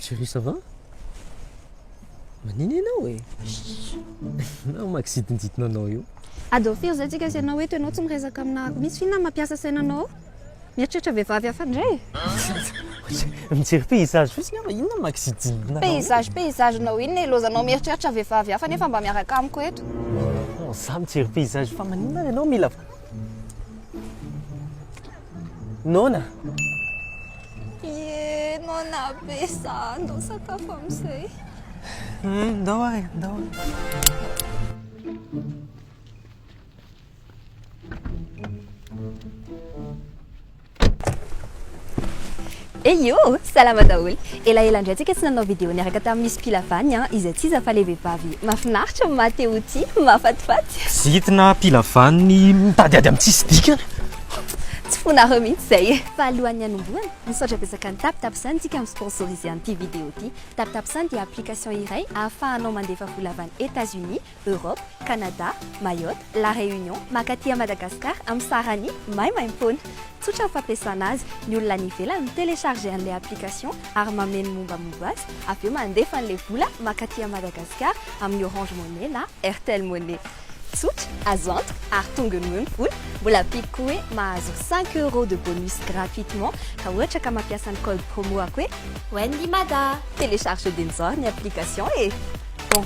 Chérie ça va? Manina ianao e? Nao makisidinjidina anao io. Ado firy izay tsika sy ianao eto, ianao tsy miresaka aminà misy f'inona mampiasa saina anao? Mieritreritra vehivavy hafa indray e! Mijery paysage fotsiny aho fa inona ma kizijimbina anao io? Paysage paysage nao inona e? Lozanao mieritreritra vehivavy hafa nefa mba miaraka amiko eto. Non, za mijery paysage fa maninona ary ianao mila Noana! Ye, Noana be za, ndao sakafo amin'izay. Ndao ary e, ndao. Eio! Salama daholo! Elaela indray tsika tsy nanao vidéo niaraka tamin'ny Miss Pilavany an, izay tsy iza fa ilay vehivavy mahafinaritra, maha te ho tia, mahafatifaty. Zintina Pilavany mitadiady amin'ny tsisy dikany. Tsy fonareo mihitsy izay e! Fa alohan'ny hanombohana, misaotra betsaka ny TapTapSend tsika mi-sponsoriser an'ity vidéo ity. TapTapSend dia application iray ahafahanao mandefa vola avy any Etats-Unis, Europe, Canada, Mayotte, La Réunion, makaty à Madagascar am sarany maimaimpoana. Tsotra ny fampiasana azy, ny olona any ivelany mi télécharger an'ilay application ary mameno ny mombamomba azy, avy eo mandefa an'ilay vola makaty à Madagascar amin'ny Orange Money na Airtel Money. Tsotra, azo antoka ary tonga noho eo ny vola. Mbola ampiako koa hoe mahazo cinq euros de bonus gratuitement raha ohatra ka mampiasa ny code promo-ako hoe. Wendy Mada! Télécharger dia nizara ny application e! Bon.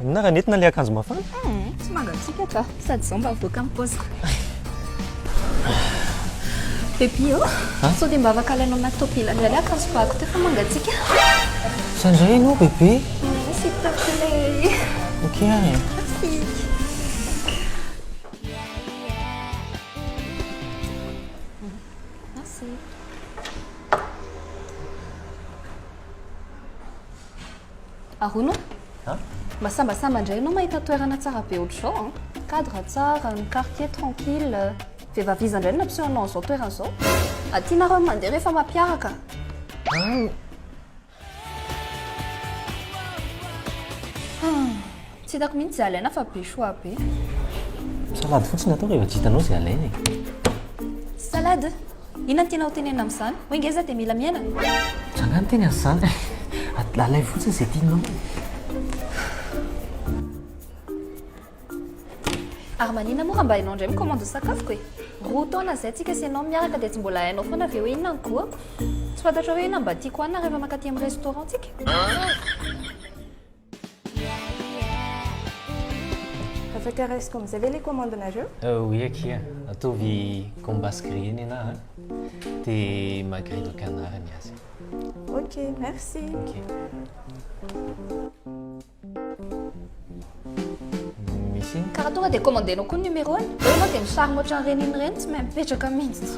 Inona raha nentina ilay akanjo mafana? Eh, tsy mangatsiaka ka, sady izao mba voaka amin'ny paosiko. Baby ô, oh. sao dia mba afaka alainao anaty tôpila indray ilay akanjo fako teo fa mangatsiaka. Izany indray ianao, bebe? Mm, s'il te plaît. Ok, ary. Arono a! Mba sambasamba indray ianao mahita toerana tsara be ohatr'izao an! Cadre tsara, ny quartier tranquille. Vehivavy iza indray no nampiseho anao an'izao toerana izao? Aty nareo no mandeha rehefa mampiaraka. Hum. Tsy hitako mihitsy izay alaina fa be choix be. Salade fotsiny ataoko e, efa tsy hitanao izay alaina e. Salade? Inona no tianao hotenenina amin'izany? Hoe ngeza dia mila miaina? Za angaha niteny an'izany e. Alaivo fotsiny izay tianao e. Ary maninona moa raha mba ianao indray mi-commande ny sakafoko e? Roa taona izay tsika sy ianao miaraka dia tsy mbola hainao foana ve hoe inona no goût-ko? Tsy fantatrao hoe inona no mba tiako hohanina rehefa mankaty amin'ny restaurant-tsika? Afaka raisiko amin'izay ve ilay commande-nareo? Oui akia, ataovy gambas grillé ny anah an, dia magritte au canard ny azy. Ok, merci. Ok. Misy inona? Ka raha tonga dia commande-nao koa ny numéro-ny. Eo ianao dia misarona ohatran'ireny inona ireny tsy mahay mipetraka mihitsy.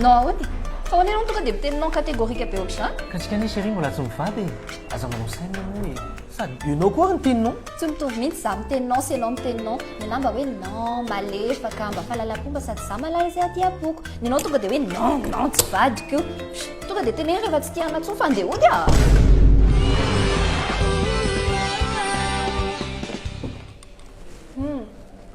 Non aody, fa ahoana ianao no tonga dia miteny non catégorique be ohatr'izany? Ka tsika anie chérie mbola tsy mivady e, aza manao saina moa e. Sady ianao koa ary miteny non. Tsy mitovy mihitsy za miteny non sy ianao miteny non. Ny anah mba hoe non, malefaka, mba fahalalam-po, mba sady za malaza izay hadiam-poko. Ny anao tonga dia hoe non, non, tsy vadiko io. Tonga dia teneno rehefa tsy tia anah intsony fa andeha hody ah! Humm.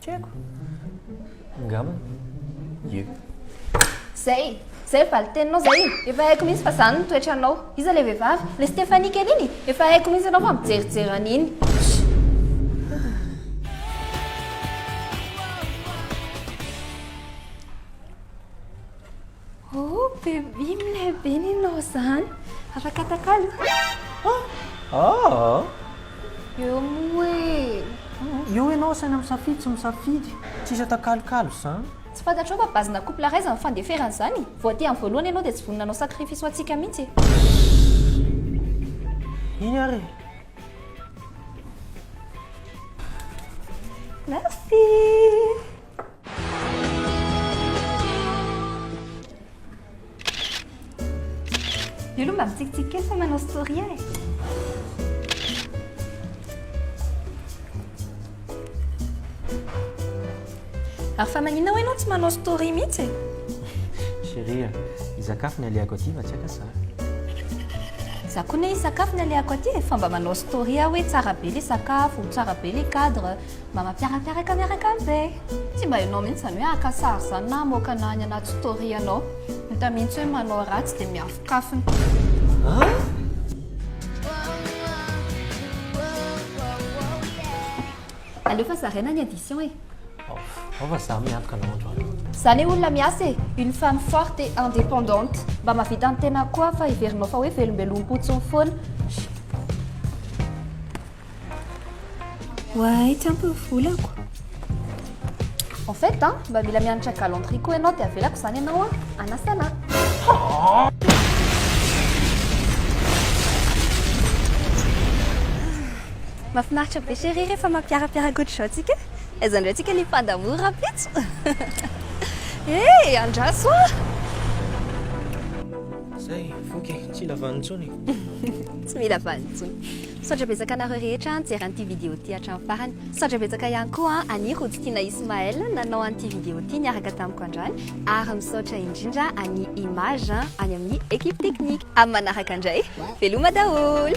Tsy haiko. Angamba. Ie. Zay! Zay valin-teninao zay e! Efa haiko mihitsy fa zany ny toetranao. Iza le vehivavy? Le Stéphanie kely iny? Efa haiko mihitsy ianao fa mijerijery an'iny. Oh baby milay be ny nao zany. Afaka atakalo? Ahh. Eo moa e. Eo ianao asaina misafidy sy misafidy. Tsisy atakalokalo zany. Tsy fantatrao fa base na couple raisin ny fandeferana zany? Vao te am voalohany ianao dia tsy vonona hanao sacrifice ho antsika mihitsy e. Iny ary e. Merci. Io aloha mba mitsikitsiky kely fa manao story e. Ary fa maninona hoe ianao tsy manao story mihitsy e? Chérie, hisakafo ny alehako aty fa tsy aka za. Za koa anie hisakafo ny alehako aty e, fa mba manao story aho hoe tsara be ilay sakafo, tsara be ilay cadre, Mba mampiarapiaraka miaraka amiko ve? Tsy mba enao mihitsy zany hoe haka sary zany na hamoaka ana any anaty story anao. Hita mihitsy hoe manao ratsy dia miafokafona. An? Aleo fa zaraina ny addition e. Ao fa za miantoka anao androany. Za ne olona miasa e, une femme forte et indépendante. Mba mahavita ny tenako koa aho fa heverinao fa hoe velombelom-potsiny foana. Oay, tsy ampy ny volako. En fait an, mba mila mianatra galanterie koa ianao dia avelako izany ianao an, anasa anah. Mahafinaritra be chérie rehefa mampiarapiaraka ohatr'izao tsika. Aiza indray tsika ny pas d'amour rahampitso. Eh, andraso an. Zay, voky e, tsy mila vaniny intsony e. Tsy mila vaniny intsony. Misaotra betsaka anareo rehetra nijery an'ity vidéo ity hatramin'ny farany. Misaotra betsaka ihany koa an'i Rodotina Ismaël nanao an'ity vidéo ity niaraka tamiko androany ary misaotra indrindra an'i Image any amin'ny équipe technique. Amin'ny manaraka indray, veloma daholo!